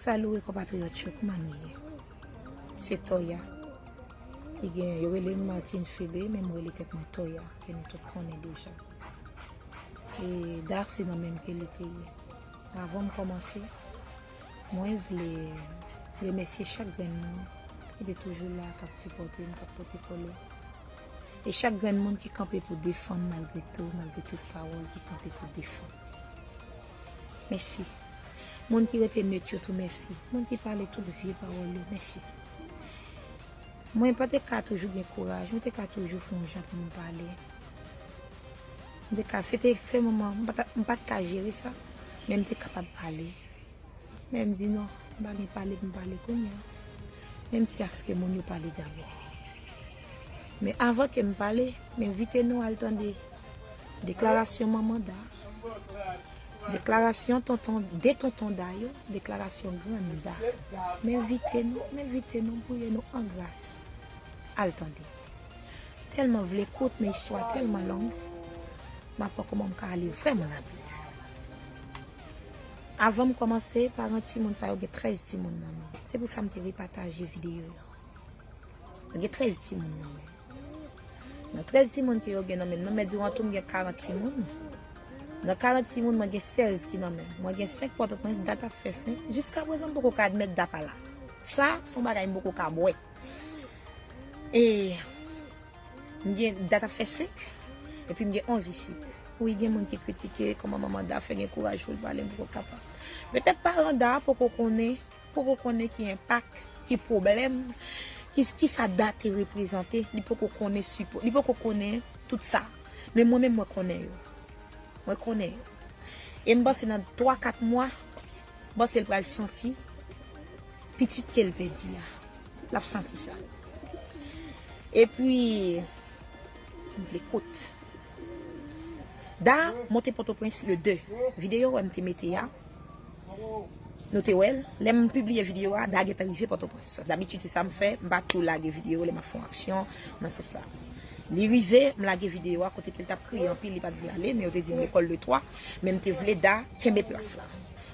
Salut konpatriyòt yo kouman nou ye se Toya li gen yo rele m Martine Phebe men m rele tèt mwen Toya ke nou tout konnen deja e Dar se nan menm ke li te ye avan m kòmanse mwen vle remèsye chak grenn moun ki te toujou la k ap sipòte m k ap pote kole e chak grenn moun ki kanpe pou defann malgre tou malgre tout pawòl ki kanpe pou defann. Mèsi. Moun ki rete neut yo tou mèsi. Moun ki pale tout vye pawòl yo mèsi. Mwen pa te ka toujou gen kouraj, mwen te ka toujou fon jan pou m pale. Mwen te ka, se te sèlman mwen, mwen pa te ka jere sa, men m te kapab pale. Men m di non, m pa gen pale pou m pale kounya. Men m di aske moun yo pale dabò. Men avan ke m pale, m envite nou al tande deklarasyon manman Da, deklarasyon tonton, 2 tonton Da yo, deklarasyon grann Da. M envite nou, m envite nou, m priye nou an gras, al tande. Tèlman vle kout men istwa tèlman long, m ap wè kouman m ka ale vrèman rapid. Avan m kòmanse, paran timoun sa yo gen 13 timoun nan men. Se pou sa m te vle pataje videyo yo. Mwen gen 13 timoun nan men. Nan 13 timoun ke yo gen nan men, nan men Durand tou mwen gen 40 timoun. Nan 40 timoun mwen gen 16 ki nan men. Mwen gen 5 Pòtoprens, dat ap fè 5. Jiska prezan m poko ka admèt Dapala. Sa, son bagay m poko ka bwè. E, m gen, dat ap fè 5, epi m gen 11 isit. Wi gen moun ki kritike kòman manman Da fè gen kouraj pou l pale, m poko kapab. Petèt paran Da poko konnen. poko konnen ki enpak, ki pwoblèm, ki sa dat te reprezante, li poko konnen sipo, li poko konnen tout sa. Men mwen menm mwen konnen yo. Mwen konnen yo. E m panse nan 3, 4 mwa, m panse l pral santi pitit ke l pèdi a. L ap santi sa. E pi, m vle kout. Da monte Potoprens le 2. Videyo wè m te mete a, Nou te wèl? Lè m pibliye videyo a, Da gentan rive Pòtoprens. Paske dabitid se sa m fè, m pa tou lage videyo lè m ap fè yon aksyon nan sans sa. Li rive, m lage videyo a kote ke l t ap kriye anpil, li pa t vle ale, men yo te di l lekòl de twa, men m te vle Da kenbe plas la.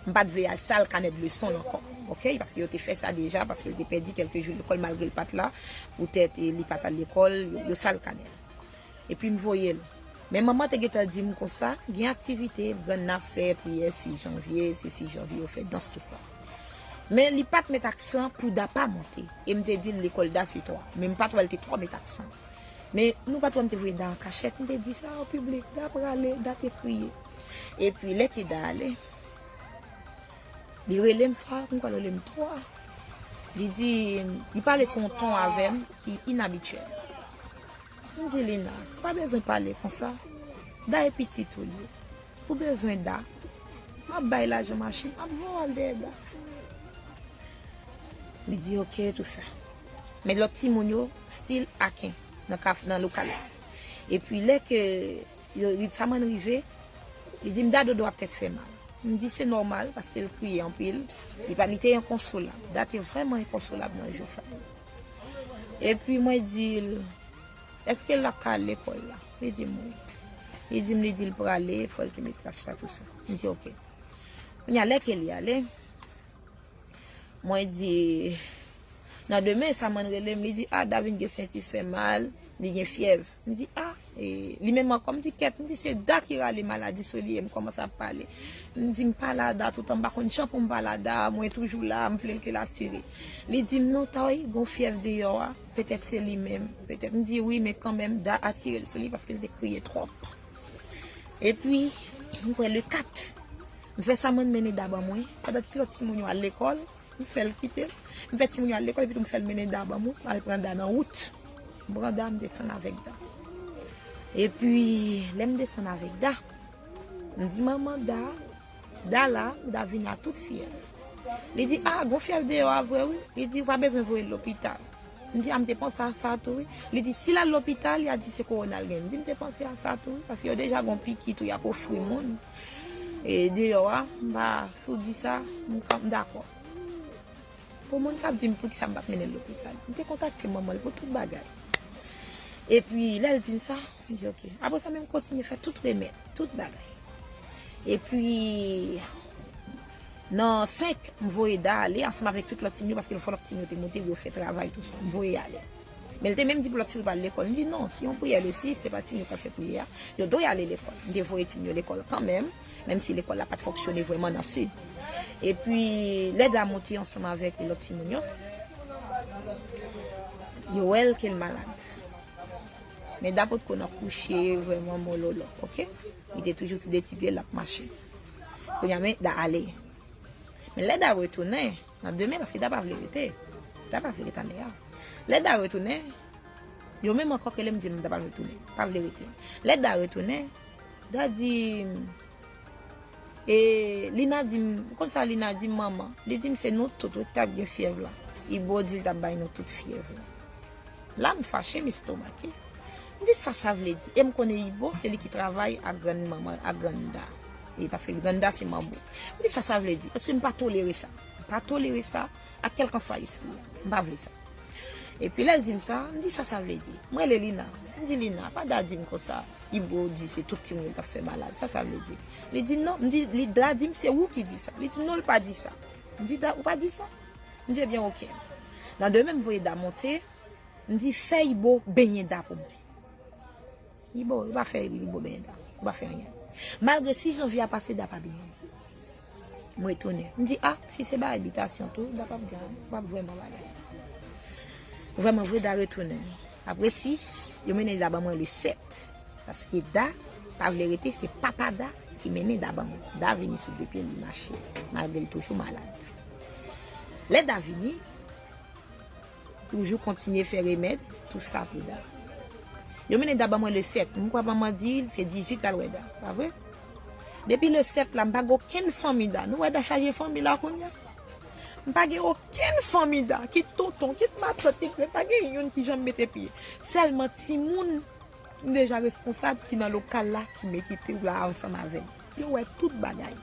M pa t vle al sal kanè de leson l ankò. Oke, paske yo te fè sa deja, paske l te pèdi kèlke jou lekòl malgre l pa t la, poutèt li pa t al lekòl, yo sal kanè l. Epi m voye l. Men manman te gentan di m konsa, gen aktivite, grann nan ap fè priyè 6 janvye, se 6 janvye yo fè dans tout sa. Men li pa t met aksan pou Da pa monte. E m te di l lekòl Da se 3. Men m pa t wè l te twò met aksan. Men nou pa t wè m te voye Da an kachèt, m te di sa an piblik, Da prale, Da te kriye. Epi lè ke Da ale, li rele m sa, m kwè l rele m 3. Li di, li pale sou yon ton avè m ki inabityèl. M di Lina, pa bezwen pale konsa, Da e pitit ou li. Ou bezwen Da? M ap bay lajan machin, m ap voye w al dèyè Da. Li di ok tou sa. Men lòt timoun yo stil aken nan lokal la. Epi lè ke Ritzaman rive, li di m Da dodo ap tèt fè mal. M di se nòmal paske l kriye anpil. Li te enkonsolab. Da te vrèman enkonsolab nan jou sa. Epi mwen di l, Eske l ap ka al lekòl la? Li di m wi. Li di m li di l prale, fò l te met kach la tousa. M di ok. Kounye a lè ke li ale, mwen di, Nan demen sa mwen rele m, li di, A Davin gen senti fè mal, li gen fyèv. M di ah e li menm ankò m di kèt m di se Da ki rale maladi sou li e m kòmanse ap pale m di m pale a Da toutan m pa konn jan pou m pale a Da mwen toujou la m vle l ke l asire li di m non Toy gon fyèv deyò a petèt se li menm petèt m di wi men kanmenm Da atire l sou li paske l te kriye twòp epi m kwè le 4 m fè sa mwen m mennen Da ban mwen pandan ti lòt timoun yo al lekòl. M fè l kite l. M fè timoun yo al lekòl epitou m fè l mennen Da ban mwen pou m al pran Da nan wout. M pran Da m desann avèk Da. Epi, lè m desann avèk Da, m di manman Da, Da la, Da vin la tout fyèv. Li di, A, gon fyèv deyò a vre wi. Li di, Ou pa bezwen voye l lopital. M di, A, m te panse a sa tou wi. Li di, Si l al lopital, y a di se kowona l genyen. M di, M te panse a sa tou wi, paske yo deja gon piki tou y ap ofri moun deyò a. Si w di sa, m ka, m dakò. Pou moun k ap di m poukisa m pa t mennen l lopital, m te kontakte manman l pou tout bagay. Epi, lè l di m sa, m di ok. Apre sa, men m kontinye fè tout remèd, tout bagay. Epi, nan 5, m voye Da ale ansanm avèk tout lòt timoun yo, paske l fò lòt timoun yo te monte, yo fè travay, tout sa. M voye yo ale. Men l te menm di pou lòt timoun yo pa al lekòl. M di non, se yon priyè le 6, se pa timoun yo k ap fè priyè a. Yo dwe ale lekòl. M te voye timoun yo lekòl kanmenm. menm si lekòl la pa t fonksyone vrèman nan Sid. Epi, lè Damou te ansanm avèk lòt timoun yo, yo wè l ke l malad. Men Da potko nan kouche vrèman mololo, oke. Li te toujou ti de ti pye l ap mache. Kounye a men Da ale. Men lè Da retounen, nan demen, paske Da pa vle rete. Da pa vle rete ane a. Lè Da retounen, yo menm ankò ke lè m di m Da pa vle retounen, pa vle rete. Lè Da retounen. Daddy m E Lina di m Ou konn sa Lina di m manman Li di m se nou tout wi ki t ap gen fyèv la Ibo di l t ap bay nou tout fyèv la La m fache m estomake M di sa sa vle di e m konnen Ibo se li ki travay ak grann manman ak grann Da e paske grann Da se manbo M di sa sa vle di paske m pa tolere sa M pa tolere sa ak kèlkanswa lespri yo. M pa vle sa. Epi lè l di m sa, m di sa sa vle di. M rele Lina, m di Lina, pa da di m konsa, Ibro di se tout timoun yo k ap fè malad, sa sa vle di? Li di non, m di, li da di m se ou ki di sa. Li di non l pa di sa. M di da ou pa di sa? M di ebyen ok. Nan demen m voye da monte, m di fè Ibro benyen da pou mwen. Li bo, li pa fè li bo benyen da. Li pa fè anyen. Malgre si janvye a pase da pa benyen. M retounen. M di a, si se bagay bitasyon tou, da pa p gen, pa p vrèman bagay. Vrèman vre da retounen. Apre 6, yo mennen da ban mwen le 7. Paske da pa vle rete, se papa da ki mennen da ban mwen. Da vini sou 2 pye l, li mache. Malgre l toujou malad. Lè da vini. Toujou kontinye fè remèd tou sa pou Da. Yo mennen Da ban mwen le 7. M kwè manman di l se 18 l al wè Da. Pa vre? Depi le 7 la m pa gen okenn fanmi Da. Nou wè Da chaje fanmi la kounya. M pa gen okenn fanmi Da. Kit tonton, kit matant, kit gran, pa gen youn ki janm mete pye. Sèlman timoun ki deja responsab ki nan lokal la ki mete pye la ansanm avè m. Yo wè tout bagay.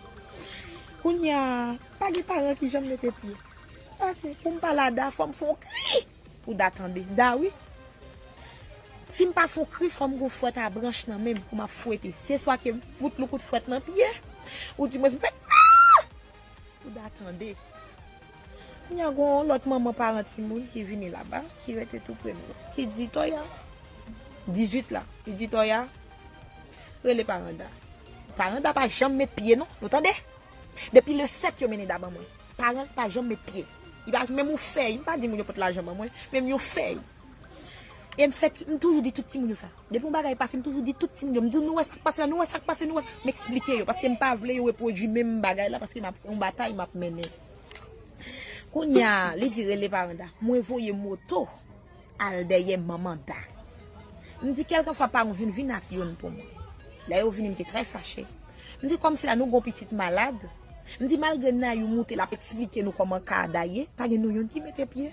Kounya pa gen paran ki janm mete pye. Pase poum pale a Da fòm fon kri pou Da tande Da wi Sim pa fon kri fòm gon fwèt a branch nan menm pou map fwete se swa kem fout yon kout fwèt nan pye ou di mwen m fè aah pou Da tande Kounya gon yon lòt manman paran timoun ki vini laba ki rete tou prem nan ki di Toya 18 la li di Toya rele paran Da paran Da pa janm met pye non nou tande. Depi le 7 yo mennen da ban mwen. Paran pa janm met pye. Li pa menm yon fèy. M pa di moun yo pot lajan ban mwen. Menm yon fèy. E m fè tout, m toujou di tout timoun yo sa. Depi yon bagay pase, m toujou di tout timoun yo. M di yo nou wè sa k pase la, nou wè sa k pase, nou wè. M eksplike yo paske m pa vle yo repwodui menm bagay la paske m ap, yon batay m ap mennen. Kounya, li di rele paran Da. Mwen voye moto. al dèyè manman Da. M di kèlkanswa paran w vin, vin ak youn pou mwen. Lè yo vini m te trè fache. M di kòmsi la nou gon pitit malad. M di malgre Nayou moute l ap eksplike nou kòman ka a Da ye, pa gen nou youn ki mete pye.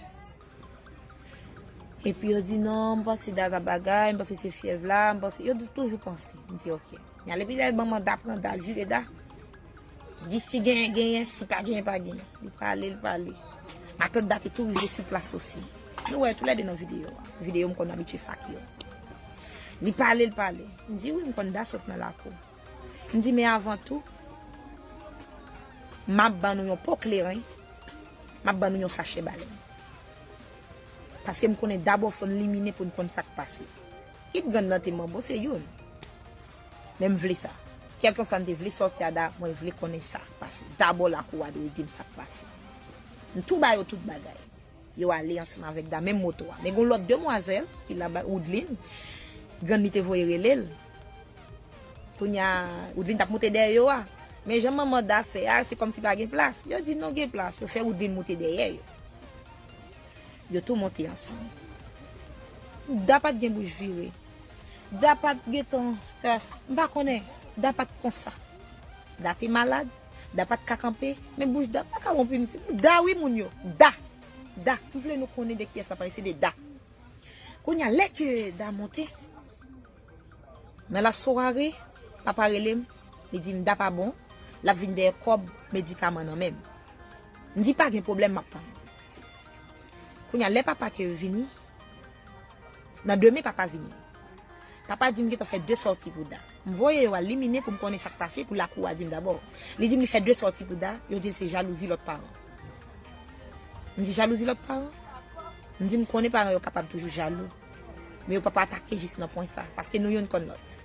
Epi yo di non, m panse Da ta bagay, m panse se fyèv la, m panse, yo toujou panse. M di ok. N ale pi lè manman Da pran Da, l vire Da. Di si genyen genyen, si pa genyen pa genyen. Li pale, li pale. Matant Dati tou rive sou plas osi. Nou wè yo tou lè 2 nan videyo a. Videyo m konn abitye fè ak yo. Li pale, li pale. M di wi m konn Da sot nan lakou. M di men avan tou, m ap ban nou yon po kleren, m ap ban nou yon sachè balèn. Paske m konnen dabò fò n limine pou n konn sa k pase. Ki t grann nan te manbo se youn. Men m vle sa. Kèlkeswa n te vle sòti a da, mwen vle konnen sa k pase. Dabò lakou a dwe di m sa k pase. M tou ba yo tout bagay. Yo ale ansanm avèk da, menm moto a. Men gen yon lòt demwazèl ki la ba Woudlin. Grann li te voye rele l. Kounye a, Woudlin t ap moute dèyè yo a. Men jan manman da fè a, se kòmsi pa gen plas. Yo di non gen plas. Yo fè Woudlin moute dèyè yo. Yo tou monte ansanm. Da pat gen bouch vire. Da pat gentan fè. M pa konnen. Da pat konsa. Da te malad. Da pat ka kanpe. Men bouch Da pa ka wonp wi mesye. Da wi moun yo. Da! Da! M vle nou konnen de kiyès la pale. Se de Da. Kounye a lè ke Da monte. Nan la soirée, papa rele m, li di m Da pa bon, l ap vin dèyè kòb medikaman nan men m. M di pa gen pwoblèm m ap tann. Kounye a lè papa ke vini, nan demen papa vini. Papa di m gentan fè 2 sòti pou Da. M voye yo al liminen pou m konnen sa k pase pou lakou a di m dabò. Li di m li fè 2 sòti pou Da, yo di l se jalouzi lòt paran. M di jalouzi lòt paran? M di m konnen paran yo kapab toujou jalou. Men yo pap atake jis nan pwen sa, paske nou youn konn lòt.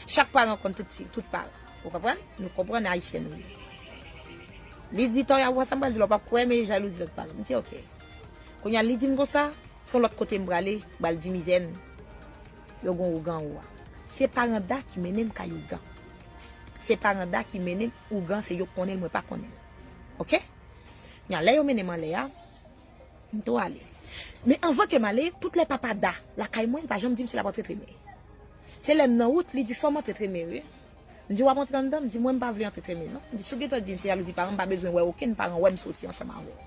Chak paran konn tout ti, tout paran. Ou konprann? Nou konprann Ayisyen nou ye. Li di Toya, ou wè sa m pral di la, ou pap kwè, men jalouzi lòt paran. M di ok. Kounye a li di m konsa, s on lòt kote m prale, m pral di mizè n, yo gen ougan ou a. Se paran Da ki mennen m kay ougan. Se paran Da ki mennen m ougan, se yo k konnen l, mwen pa konnen l. Ok? Kounye a, lè yo mennen m anlè a. M to ale. Men anvan ke m ale, tout lè papa Da lakay mwen, li pa janm di m si l ap antre Treme. Se lè m nan wout, li di fò m antre Treme wi. M di w ap antre anndan? L di mwen m pa vle antre Treme non. M di si w gentan di m se jalouzi paran m, m pa bezwen wè okenn paran wè m soti ansanm avè w.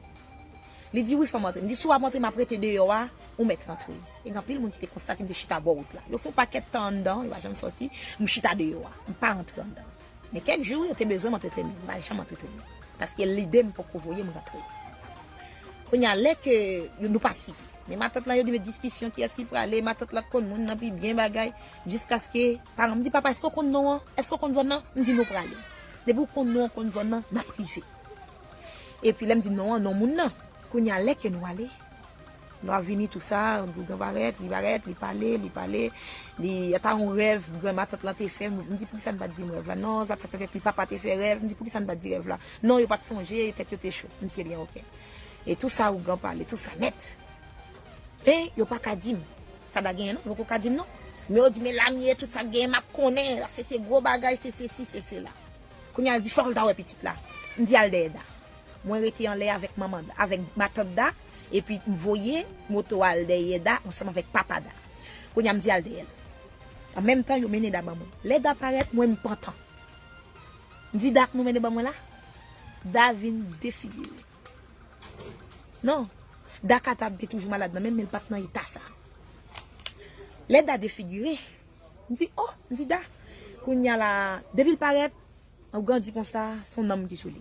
Li di wi fò m antre. M di si w ap antre m ap rete deyò a, ou mèt rantre. E gen anpil moun ki te konstate m te chita bò wout la. Yo fon pakèt tan anndan, yo pa janm soti, m chita deyò a. M pa rantre anndan. Men kèk jou yo te bezwen m antre trennen, m pa janm antre trennen paske lide m poko voye m rantre. Kounye a lè ke nou pati, men matant lan yo di men diskisyon kiyès ki prale, matant lan konn moun nan pi byen bagay jiskaske paran m di papa èske w konn non an, èske w konn zòn nan, m di nou prale. Depi w konn non an, w konn zòn nan, n ap rive. Epi lè m di non an, non moun nan. Kounye a lè ke nou ale. Nou ap vini tou sa, Bougan parèt, li parèt, li pale, li pale, li ata yon rèv gran matant lan te fè, m di poukisa n pa t di m rèv la, non sa fè tèt li papa te fè rèv, m di poukisa n pa t di rèv la, non yo pa t sonje, tèt yo te cho, m si ebyen ok. E tou sa Ougan pale, tou sa nèt. Men yo pa ka di m sa da genyen non, yo poko ka di m non. Men yo di men la m ye, tout sa k genyen m ap konnen, la se se gwo bagay, se sesi, se sela. Kounye a l di fò l ta wè pitit la, m di al dèyè Da. Mwen rete anlè avèk manman Da, avèk matant Da, epi m voye moto a al dèyè Da ansanm avèk papa Da. Kounye a m di al dèyè l. An menm tan, yo mennen Da ban mwen. Lè Da parèt, mwen m pantan. M di Da k nou mennen ban mwen la? Da vin defigire. Non. Da Kata te toujou malad nan menm, men l pa t nan eta sa. Lè Da defigire, m di, O! M di Da, kounye a la a, depi l parèt. Ou grandi konsa, son nanm ki sou li.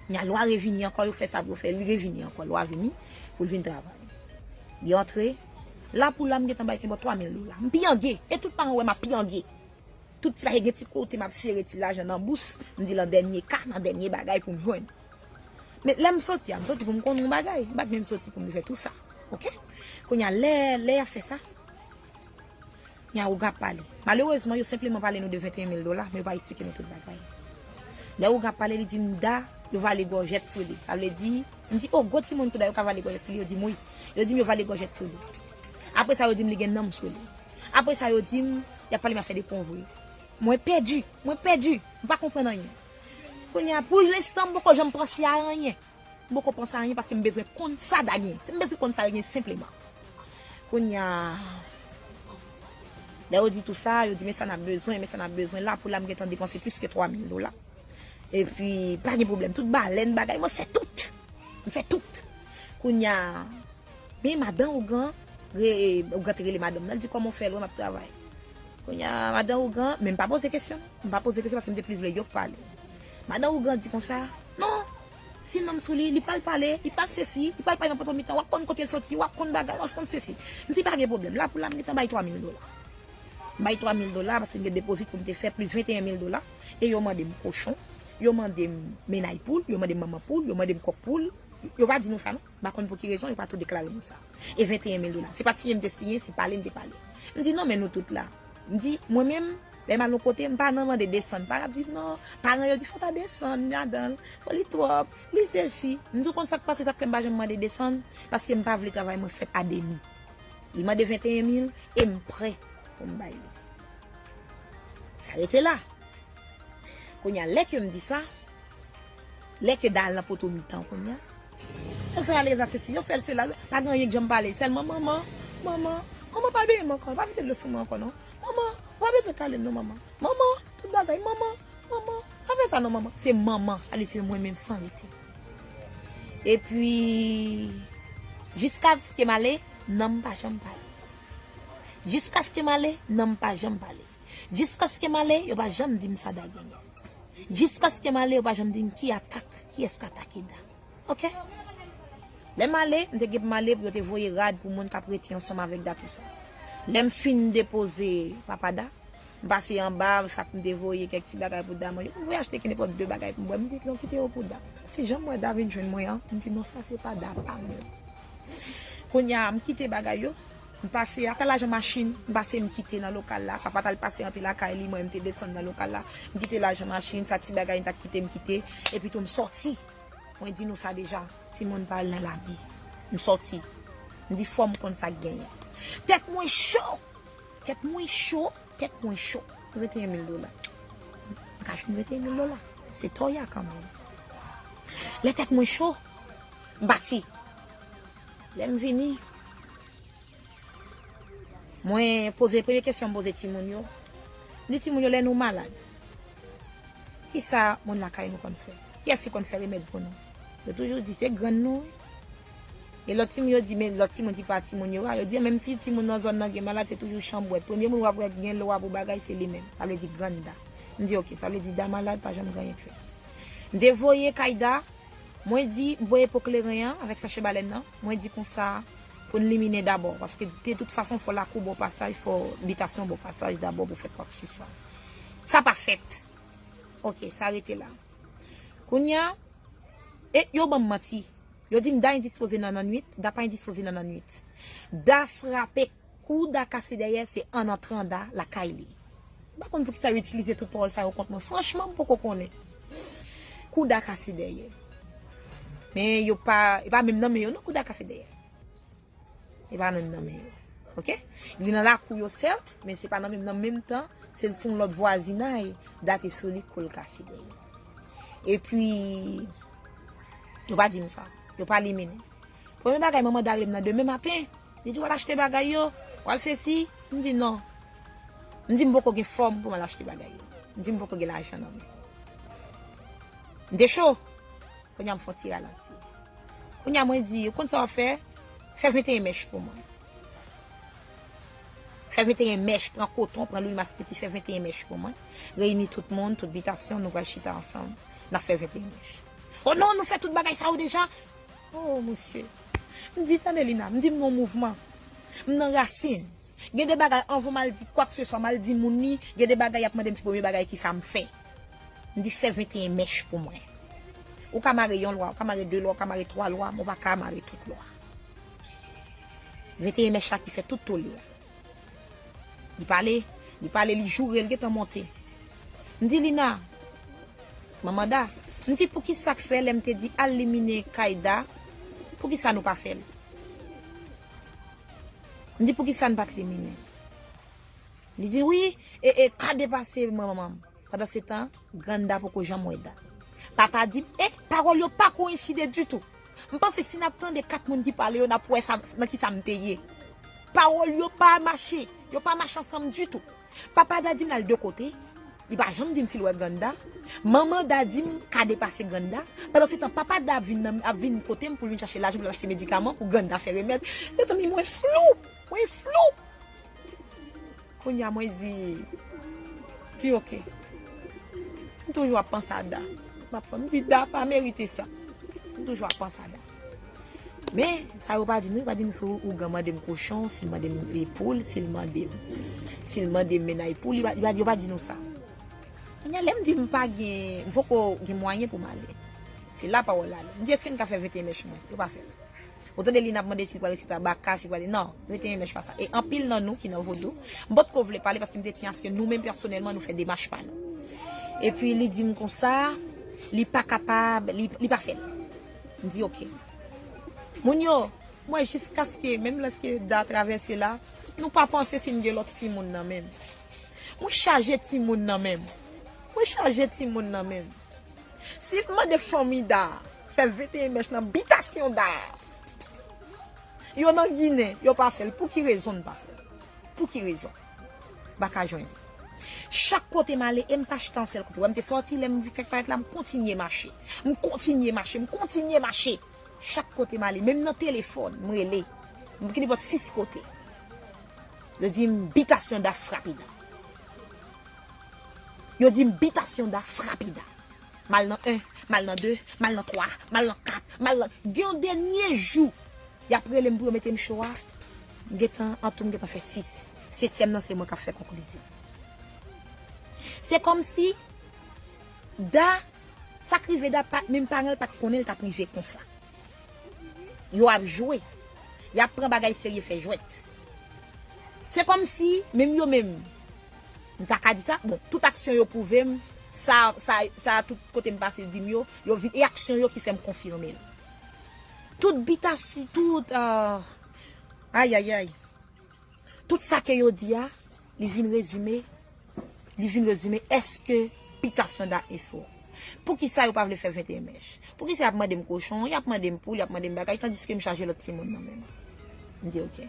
Kounya lwa revini ankò, yo fè sa pou yo fè, li revini ankò, lwa vini pou l vin travay. Li antre, la pou la m gentan bay kèbòt 3000 dola. M piyange, e tout paran wè m ap piyange. Tout ti bagay gen ti kote m ap sere ti lajan nan bous, m di lan dènye ka, nan dènye bagay pou m jwenn. Men lè m soti a, m soti pou m konnen yon bagay, m pa t menm soti pou m te fè tou sa. Ok. Kounya lè, lè y ap fè sa. Kounya a Ouga ap pale. Malerezman, yo senpleman pale nou de 21 mil dola, men yo pa esplike nou tout bagay. Lè Ouga ap pale, li di m, Da, yo vale gòjèt sou li. Sa vle di, m di, O, gwo timoun tou Da yo ka vale gòjèt sou li? Yo di m, Wi. Yo di m yo vale gòjèt sou li. Apre sa, yo di m li gen nanm sou li. Apre sa, yo di m, y ap pale m afè de ponvri. Mwen pèdi! Mwen pèdi! M pa konprann anyen. Kounya a, pou lenstan, m poko janm panse a anyen. M poko panse anyen paske m bezwen konn sa Da gen. M bezwen konn sa l gen senpleman. Kounya Lè yo di tou sa, yo di men sa n ap bezwen, men sa n ap bezwen la pou la m gentan depanse plis ke 3 mil dola. Epi pa gen pwoblèm tout balèn bagay mwen fè tout. M fè tout. Kounya Men madan ougan re ougan te rele madanm nan l di kòman w fè l wè m ap travay. Kounya madan ougan men m pa poze kesyon non. M pa poze kesyon paske m te plis vle yo k pale. Madan ougan di konsa. Non si nom sou li li pal pale li pal sesi li pal pale nan poto mitan wap konn kotel soti wap konn bagay wap konn sesi msi pa gen problem la pou la mgetan bay 3 mil dola mbay 3 mil dola paske mgen depozit poum te fè plis 21 mil dola e yo mandem kochon yo mandem menay poul yo mandem manman poul yo mandem kòk poul yo pa di nou sa non. M pa konn pou ki rezon yo pa tou deklare nou sa. E 21 mil dola. Se pa t siyen m te siyen, se pale m te pale. M di non men nou tout la. M di mwen menm, lè m al yon kote, m pa nan mande desann. Pa rap di non, paran yo di fò w ta desann ladan l, fò li twòp, li sesi. M di w konn sa k pase, sa k fè m pa janm mande desann, paske m pa vle travay mwen fèt a demi. Li mande 21 mil e m prè pou m bay li. Sa rete la. Kounye a lè ke m di sa, Lè ke dal nan poto mitan kounya. Fok sa ale esa sesi yo fel se la pa gen anyen k janm pale selman manman manman manman pa beyem anko pa vide dlo sou mwen anko non manman ou pa bezwen kalem non manman manman tout bagay manman manman pa fe sa non manman se manman sa vle di se mwen menm san rete epi jiskaskem ale nanm pa janm pale jiskaskem ale nanm pa janm pale jiskaskem ale yo pa janm dim sa da genyen. Jiskaske m ale yo pa janm di m ki atak, kiyès k atake Da. Ok. Lè m ale, m te gen pou m ale pou yo te voye rad pou moun k ap rete ansanm avèk Da tou sa. Lè m fin depoze papa Da, m pase anba sa k m te voye kèk ti bagay pou Da manje. M voye achte kenenpòt de bagay pou m bwè. M di non kite yo pou Da. Se jan m wè Da vin jwenn mwen an, m di non sa se pa Da pa m lan. Kounye a, m kite bagay yo, M pase ak lajan machin, m pase m kite nan lokal la. Papa t al pase antre lakay li, mwen m te desann nan lokal la. M kite lajan machin, sa ti bagay m t ap kite m kite. Epitou m sòti. Mwen di nou sa deja, timoun pa al nan lari. M sòti. M di fò m konn sa k genyen. Tèt mwen cho! Tèt mwen cho! Tèt mwen cho! 21 mil dola. M ka jwenn 21 mil dola. Se to ya kanmenm. Lè tèt mwen cho, m pati. Lè m vini, mwen poze premye kesyon m poze timoun yo, m di timoun yo lè nou malad, kisa moun lakay nou konn fè? Kiyès ki konn fè remèd pou nou? Yo toujou di se grann nou wi. E lòt timoun yo di, men lòt timoun ki pa timoun yo a, yo di menm si timoun nan zòn nan gen malad se toujou chanbwèt. Premye moun w ap wè ki gen lwa pou bagay se li menm. Sa vle di grann da. M di ok, sa vle di da malad pa janm gen anyen k fèt. M te voye kay da, Mwen di, Voye po kleren an avèk sache balèn nan, mwen di konsa, pou n liminen dabò, paske de tout fason fò lakou bò pasaj, fò bitasyon bò pasaj dabò pou fè kwakseswa. Sa pa fèt. Oke, sa rete la. Kounye a, e yo ban m manti. Yo di m Da endispoze nan nannuit, Da pa endispoze nan nannuit. Da frape. Kou Da kase dèyè se an antran Da lakay li. M pa konn poukisa yo itilize tout pawòl sa yo kont mwen. Franchman m poko konnen. Kou Da kase dèyè. Men yo pa e pa menm nan men yo non kou Da kase dèyè. E pa menm nan men yo. Ok. Li nan lakou yo sèt men se pa nan menm nan menm tan se l sou yon lòt vwazinay Da te sou li kou l kase dèyè. Epi yo pa di m sa. Yo pa liminen. Premye bagay manman da rele m nan demen maten, li di w al achte bagay yo, w al sesi, m di non. M di m poko gen fòm pou m al achte bagay yo. M di m poko gen lajan nan men. M te cho. Kounye a m fè yon ti ralanti. Kounye a mwen di yo, ou konn sa w ap fè? Fè 21 mèch pou mwen. Fè 21 mèch, pran koton, pran lwimas piti, fè 21 mèch pou mwen. Reyini tout moun, tout bitasyon, nou pral chita ansanm, n ap fè 21 mèch. O non, nou fè tout bagay sa yo deja. Oh mesye. M di tande Lina, m di m nan mouvman. M nan rasin. Gen de bagay anvan m al di kwakseswa m al di moun li, gen de bagay y ap mande m ti premye bagay kisa m fè. M di fè 21 mèch pou mwen. Ou ka mare yon lwa, ou ka mare de lwa, ou ka mare twa lwa men ou pa ka mare tout lwa. 21 mèch la ki fè tout tole a. Li pale, li pale, li joure, li gentan monte. M di Lina, manman Da, m di pou ki sa k fè lè m te di al limine kay Da, pou ki sa nou pa fè l? M di pou ki sa n pa t limine l? Li di wi, e e ka depase manman m. Pandansetan, grann da poko janm wè da. Papa di m, E, pawòl yo pa koyenside ditou. M panse si n ap tande kat moun ki pale yo, n ap wè sa nan ki sa m te ye. Pawòl yo pa mache, yo pa mache ansanm ditou. Papa da di m l al de kote, li pa janm di m si l wè grann da. Manman da di m ka depase grann da. Pandansetan, papa da ap vin nan m, ap vin kote m pou l vin chache lajan pou l al achte medikaman pou grann da fè remèd. Mezanmi, mwen flou! Mwen flou! Kounya mwen di Di ok. M toujou ap panse a Da. Map fè m di Da pa merite sa. M toujou ap panse a Da. Men sa yo pa di nou, yo pa di nou si ougan mande m kochon, si l mande m poul, si l mande m si l mande m mennaj pou li, yo pa di nou sa. Kounya lè m di m pa gen m poko gen mwayen pou m ale. Se la pawòl la ale. M di èske n ka fè 21 mèch mwen? Yo pa fè l. Ou tande li nap mande si li pral resi tabaka, si li pral non, yo te enmèj pa sa. E anpil nan nou ki nan vodou, m pot ko vle pale paske m te ti aske nou menm pèsonèlman nou fè demach pa nou. Epi li di m konsa, li pa kapab, li pa fè l. M di ok. Moun yo, m wè jiskaske menm lèske Da travèse la, nou pa panse si m gen lòt timoun nan menm. Mwen chaje timoun nan menm. Mwen chaje timoun nan menm. Sil t mande fanmi Da fè 21 mèch nan bitasyon Da yo nan ginen yo pa fèl pouki rezon n pa fèl pouki rezon m pa ka jwenn li chak kote m ale e m pa chita yon sèl kote wè m te sòti lè m vin fèk parèt la m kontinye mache m kontinye mache m kontinye mache chak kote m ale menm nan telefòn m rele m knipòt 6 kote yo di m bitasyon Da frape Da. Yo dim bitasyon da frape da. Mal nan 1, mal nan 2, mal nan 3, mal nan 4, mal nan. Gen yon dènye jou yap relem pou yo metem cho a, m gentan antoum gentan fè 6, setyèm nan se mwen kap fè konklizyon. Se kòmsi Da, sak rive Da pat menm paranl pat konnen li tap rive konsa. Yo ap jwe, yap pran bagay serye fè jwèt. Se kòmsi menm yo menm. M ta ka di sa, bon, tout aksyon yo pwouve m sa, sa, sa tout kote m pase di m yo, yo vin e aksyon yo ki fè m konfime l. Tout bitasi, tout, ah, ayayay, tout sa ke yo di a, li vin rezime, li vin rezime èske bitasyon da e fo. Poukisa yo pa vle fè 21 mèch? Poukisa y ap mande m kochon, y ap mande m poul, y ap mande m bagay, tandiske m chaje lòt timoun nan menm? M di ok.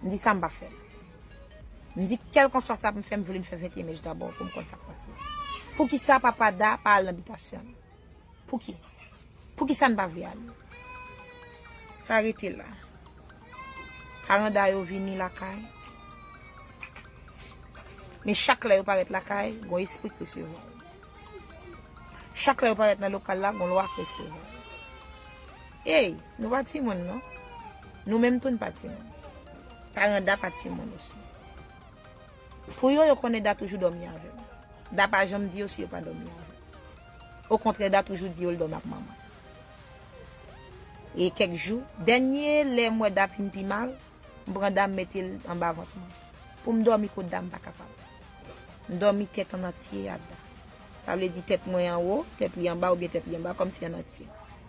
M di sa m pa fè l. M di kèlkanswa sa pou m fè, m vle m fè 21 mèch dabò pou m konn sa k pase. Poukisa papa Da pa al nan bitasyon l? Pouki? Poukisa n pa vle ale? Sa rete la. Paran Da yo vini lakay. Men chak lè yo parèt lakay, gon espri k resevwa yo. Chak lè yo parèt nan lokal la, gon lwa k resevwa yo. Ey, nou pa timoun non. Nou menm tou n pa timoun. Paran Da pa timoun osi. Pou yo, yo konnen Da toujou dòmi avè l. Da pa janm di yo si yo pa dòmi avè l. Okontrè, Da toujou di yo l dòmi ak manman l. E kèk jou, dènye lè m wè Da fin pi mal, m pran Da m mete l anba vant mwen. Pou m dòmi kot Da m pa kapab. M dòmi tèt annantye a Da. Sa vle di tèt mwen anwo, tèt li anba oubyen tèt li anba kòmsi annantye.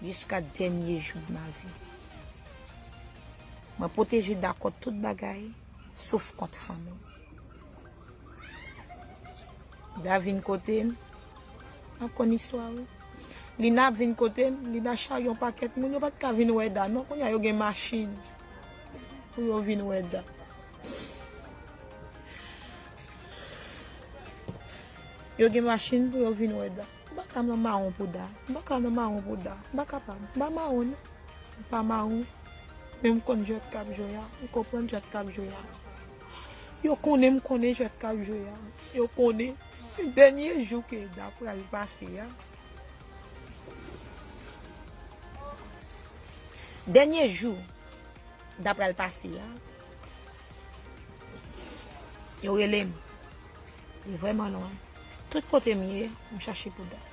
Jiska dènye jou de ma vie. Mwen pwoteje Da kont tout bagay, sof kont fanmi m. Da vin kote m, wap konn istwa wi. Lina ap vin kote m, Lina charye yon pakèt moun, yo pat ka vin wè Da non, kounya yo gen machin pou yo vin wè Da. Yo gen machin pou yo vin wè Da. M pa ka nan mawon pouda. M pa ka nan mawon pouda. M pa kapab. M pa mawon non. M pa mawon. Men m konn jwèt k ap jwe a. M konprann jwèt k ap jwe a. Yo konnen m konnen jwèt k ap jwe a. Yo konnen. Dènye jou ke Eda pral pase a. Dènye jou Eda pral pase a. Yo rele m. Li vrèman lwen. Tout kote m ye, m chache pou Dan.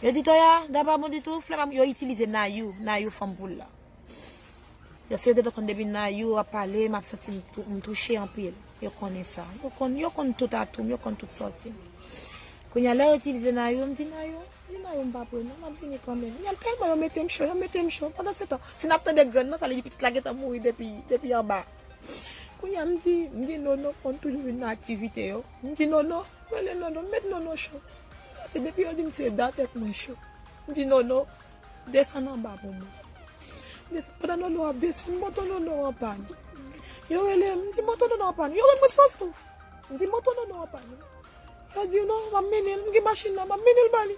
Yo di Toya, Dan pa bon ditou, flè pa bon. Yo itilize Nayou, Nayou fanm poul la. Yo se yo te dwe konn depi Nayou ap pale, m ap santi m touche anpil. Yo konnen sa. Yo konn tout atou m, yo konn tout sòti m. Kounye a, lè yo itilize Nayou, m di Nayou, di Nayou m pa pre non, m ap vini kanmenm. Yo tèlman yo mete m cho, yo mete m cho. Pandansetan, si n ap tande grann nan, sa vle di pitit la gentan mouri depi anba. Kounya m di m di Nono konn toujou vin nan aktivite yo. M di Nono, rele Nono, m met Nono cho. Pase depi yo di m se da tèt mwen cho. M di Nono, desann anba pou mwen. Desann, pandan Nono ap desann, moto Nono an pàn. Yo rele m, m di moto Nono an pàn. Yo wè mwen san souf. M di moto Nono an pàn. Yo di non, m ap mennen l, m gen machin nan, m ap mennen l ba li.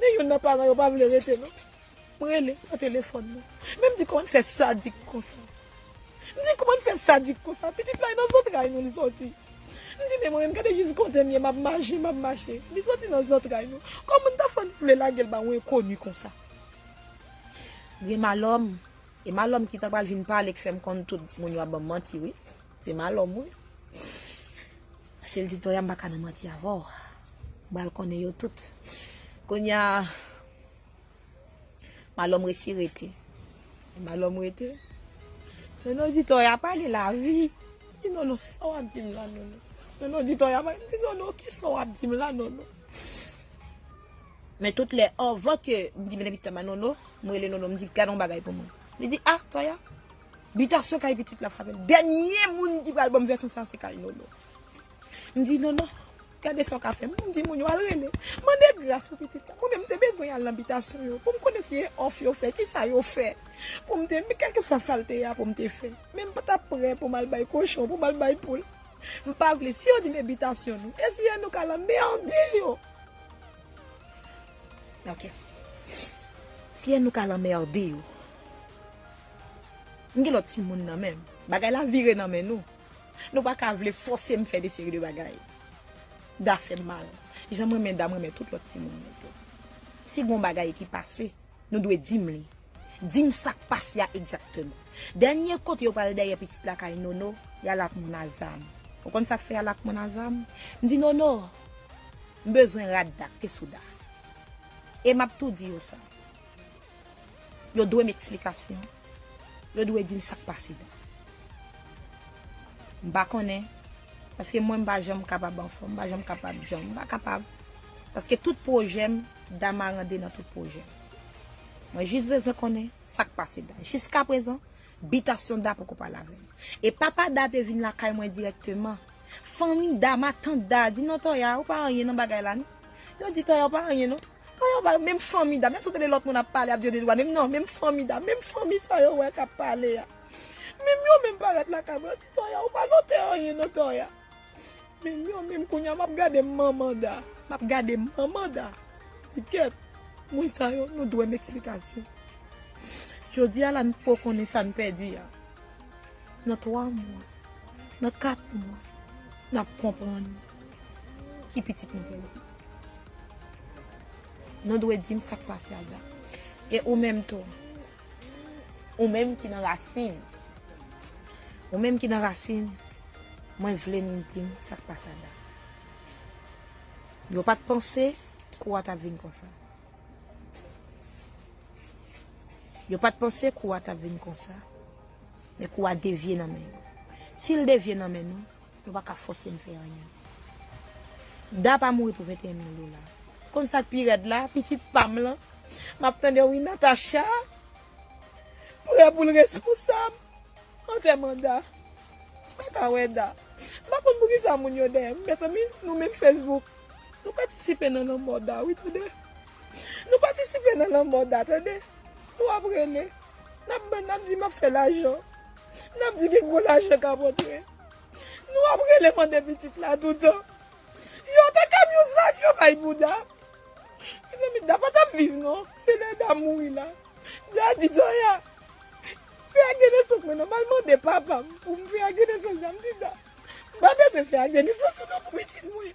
Men youn nan paran yo pa vle rete non. M rele, pa telefòn non. Men m di kòman n fè sadik konsa? M di kòman n fè sadik konsa? Pitit la e nan zantray nou li sòti. M di men mwen menm gade jis kontenbyen m ap mache, m ap mache. Li sòti nan zantray nou. Kòman n ta fè n vle lage l ba yon enkoni konsa? Gen malòm. E malòm ki ta pral vin pale ki fè m konn tout moun yo ap ban m manti wi. Se malòm wi. Sel di toya m pa ka nan manti avè w bal konnen yo tout kounya Malo m resi rete Malo m rete Nono di toya pale lavi m di Nono sa w ap di m la Nono Nono di toya pale m di Nono kisa w ap di m la Nono men tout lè anvan ke m di m mete pitit la ba Nono m rele Nono m di gad yon bagay pou mwen li di a toya. Bitasyon kay pitit la frapel. Dènye moun ki pral banm vèsyon sa se kay Nono. M di Nono, gade sa w ka fè. M di moun yo al rele. Mande gras pou pitit la. Mwen menm m te bezwen al nan bitasyon yo pou m konnen si e off yo fè, ki sa yo fè. Pou m te, kèlkeswa sa l te ye a pou m te fè. Men m pa t ap prè pou m al bay kochon, pou m al bay poul. M pa vle. Si yo di m e bitasyon nou, e si e nou k al anmède yo. Ok. Si e nou k al anmède yo. M gen lòt timoun nan menm. Bagay la vire nan men nou. Nou pa ka vle fòse m fè de seri de bagay. Da fè m mal. Jan m renmen Da m renmen tout lòt timoun yo tou. Si gen yon bagay ki pase, nou dwe di m li. Di m sa k pase a egzakteman. Dènye kote yo pral dèyè pitit la kay Nono, y al ak moun a zam. Ou konn sa k fè y al ak moun a zam? M di Nono, M bezwen rad da, kesou da. E m ap tou di yo sa. Yo dwe m eksplikasyon. Yo dwe di m sa k pase tou. M pa konnen, paske mwen m pa janm kapab anfòm, m pa janm kapab djanm. M pa kapab, paske tout pwojè m, Dama rande nan tout pwojè m. Mwen jis bezwen konnen sa k pase Da. Jiskaprezan, bitasyon Da poko pale avè m. E papa Da te vin lakay mwen dirèkteman. Fanmi Dama, tant Da a di, non Tòya, ou pa anyen nan bagay la non. Yo di Tòya ou pa anyen non. Sa yo bay menm fanmi dam ya sot tande lòt moun ap pale ap di yo dedwa menm nan menm fanmi dam menm fanmi sa yo wè kap pale ya menm yo menm parèt lakay mwen yo di tòya ou pa note anyen non tòya menm yo menm kounya map gade manman da map gade manman da di kèt moun sa yo nou dwem eksplikasyon jodia la nou poko konnen sa nou pèdi ya nan 3 mwa nan 4 mwa nap konprann. ki pitit nou pèdi. Nou dwe di m sa k pase ak Zak. E ou menm tou, ou menm ki nan rasin, ou menm ki nan rasin, mwen vle nou di m sa k pase ak Zak. Yo pa t panse kou a t ap vin konsa. Yo pa t panse kou a t ap vin konsa. Men kou a devye nan men yo. Si l devye nan men nou. Yo pa ka fòse m fè anyen. Da pa mouri pou 21 mil dola. Ou konn sa k pi rèd la, pitit pa m lan, m ap tande wi Natacha prè pou l responsab antèman Da. M pa ka wè Da. M pa konn poukisa moun yo dèyè m. Mezanmi, nou menm Facebook, nou patisipe nan lanmò Da wi tande. Nou patisipe nan lanmò Da tande. Nou ap rele, n ap bann, n ap di m ap fè lajan, n ap di gen gwo lajan k ap antre. Nou ap rele mande pitit la toutan. Yo te ka yon zak yo bay pou Da. Mezanmi Da pa tap viv non. Se lè Da mouri la. Da di Zoya. Fè ak denesans mwen non. Mal mande papam pou m fè ak denesans Da. M di Da. M pa bezwen fè ak denesans ou non pou pitit mwen.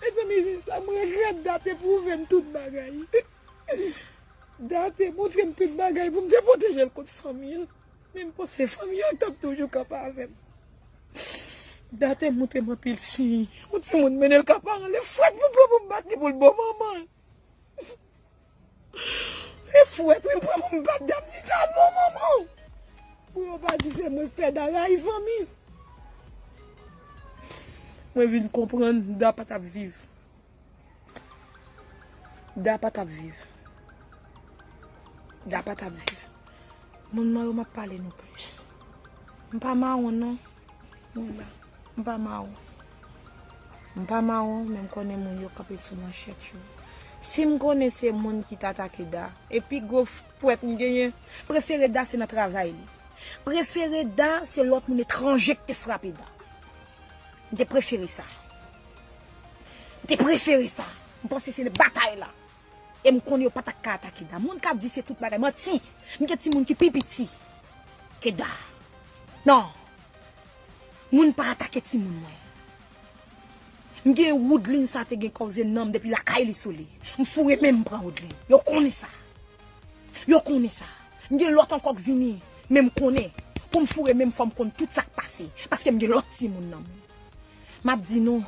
Mezanmi jan sa m regrèt Da te pwouve m tout bagay Da te montre m tout bagay pou m te pwoteje l kont fanmi l men m panse fanmi an t ap toujou kanpe avè m Da te montre m anpil siy yon timoun mennen l ka paran l e frèt pou m pran pou m bat li pou l bo manman l. E fwet wi m pran pou m bat dam ni ta non manman. Pou yo pa di se mwen k fè da rayi fanmi. Mwen vin konprann da pa tap viv. Da pa tap viv. Da pa tap viv. Moun nan yo map pale nou plis. M pa mawon non. Mwen la. M pa mawon. M pa mawon, men m konnen moun yo kanpe sou manchèt yo. Si m konnen se moun ki t atake Da, e pi gwo pwèt m genyen, prefere Da se nan travay li. Prefere Da se lòt moun etranje k te frape Da. M te prefere sa. M te prefere sa. M panse se batay la. E m konnen yo pa t ak ka ata Keda. Moun k ap di se tout bagay, manti! M gen timoun ki pi piti Keda. Non! Moun pa atake timoun mwen. M gen Woodline sa te gen koze nan m depi lakay li sou li. M foure men m m pran Woodline. Yo konnen sa. Yo konnen sa. M gen lòt ankò k vini, men m konnen pou m foure men m fò m konn tout sa k pase paske m gen lòt timoun nan men m. M ap di nou,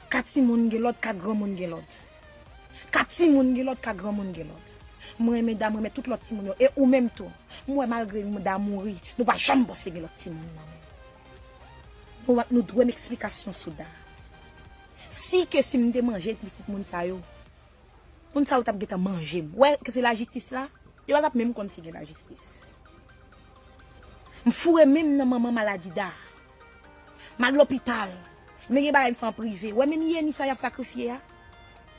ka timoun gen lòd, ka granmoun gen lòd. Ka timoun gen lòd ka granmoun gen lòd. M renmen da m renmen tout lòt timoun yo e ou menm tou. M wè malgre da mouri nou pa janm panse gen lòt timoun nan men. Nou wè nou dwe m eksplikasyon sou da. Si ke si m te manje pitit moun sa yo moun sa yo t ap gentan manje m. Ou wè ke se lajistis la? Yo pa t ap menm konn si gen lajistis. M foure men m nan manman maladi da. Mal lopital Men gen bagay m fè an prive Wè menm Yeni sa yap sakrifye a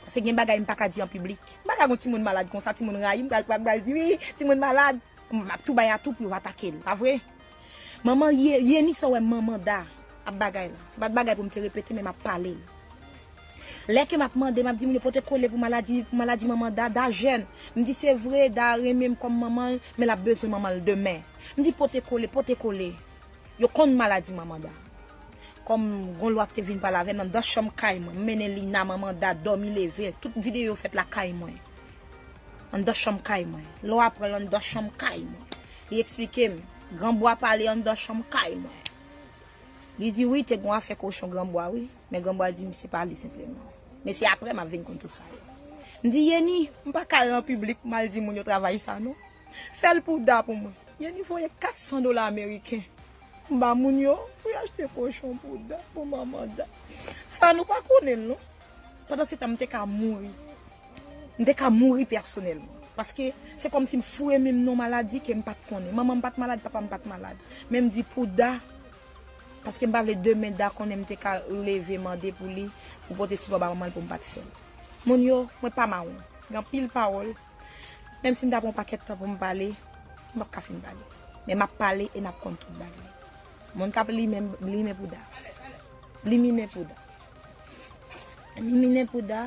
Pase gen bagay m paka di an piblik M paka gon timoun malad konsa timoun rayim pral pran pral di wi timoun malad Map tou bay atou pou yo atakel pa vre Manman Yeni sa w wè manman Da ap bagay la se pat bagay pou m te repete men map pale l Lè ke map mande map di moun yo pote kole pou maladi pou maladi manman Da Da jèn m di se vre Da renmen m kòm manman l men lap bezwen manman l demen m di pote kole pote kole. Yo konn maladi manman Da. Kòm gon lwa ki te vin pale avè m anndan chanm kay mwen. M mennen Lina, manman Da, dòmi leve. Tout videyo yo fèt lakay mwen. Anndan chanm kay mwen. Lò a pran l anndan chanm kay mwen. Li eksplike m. Granbo a pale anndan chanm kay mwen. Li di wi te gon afè kochon granbo a wi. Men granbo a di m se pa li senpleman. Men se aprè m ap vin konn tout sa yo. M di Yeni, m pa ka al nan piblik m al di moun yo travay sa non. Fèl pou Da pou mwen. Yeni voye 400 dola ameriken m ba moun yo pou yo achte kochon pou Da pou manman Da. Sa nou pa konnen l non. Pandansetan m te ka mouri. M te ka mouri pèsonèlman. Paske se kòm si m foure men m nan yon maladi ke m pat konnen. Manman m pat malad, papa m pat malad. Men m di pou Da, paske m pa vle demen Da konnen m te ka leve mande pou li pou pote sipò ba manman l pou m pat fè l. Moun yo, mwen pa mawon. Gen anpil pawòl. Menm si m ta pran yon pakèt tan pou m pale, m pap ka fin pale. Men m ap pale e n ap konn tout bagay. Moun k ap limen, limen pouda. Liminen pouda. Liminen pouda,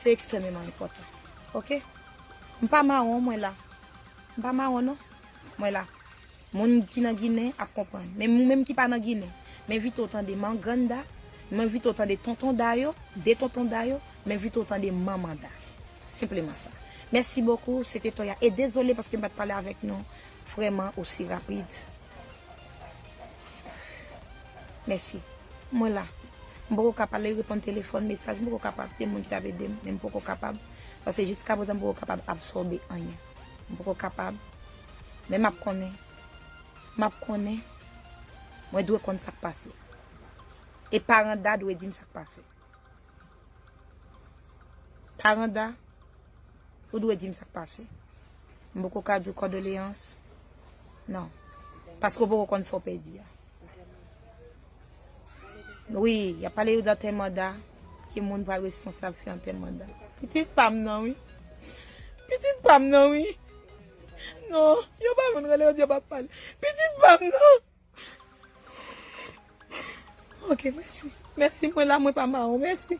se ekstrèmeman enpòtan. Ok? M pa mawon, mwen la. M pa mawon non. Mwen la. Moun ki nan ginen ap konprann. Men ou menm ki pa nan ginen, m envite w tande mangrann Da, m envite w tande tonton Da yo, 2 tonton Da yo, m envite w tande manman Da. Senpleman sa. Mèsi bokou, se te Toya. E dezole paske m pa t pale avèk nou vrèman osi rapid. Mèsi. Mwen la. M poko ka pale, reponn telefòn, mesaj, m poko kapab. Se moun ki t ap ede m, men m poko kapab. Paske jiskaprezan m poko kapab absòbe anyen. M poko kapab Men map konnen, map konnen, mwen dwe konn sak pase. E paran Da dwe dim sak pase. Paran Da, ou dwe dim sak pase. M poko ka diw kòdoleyans, non. Paske ou poko konn sa w pèdi a. Wi, yap pale yo dan tè manda, ki moun pral responsab fè yon tè manda. Pitit pam nan wi. Pitit pam nan wi. Non, yo pa konn rele yo di yo pa pale. Pitit pam nan. Ok, mèsi. Mèsi mwen la mwen pa mawon. Mèsi.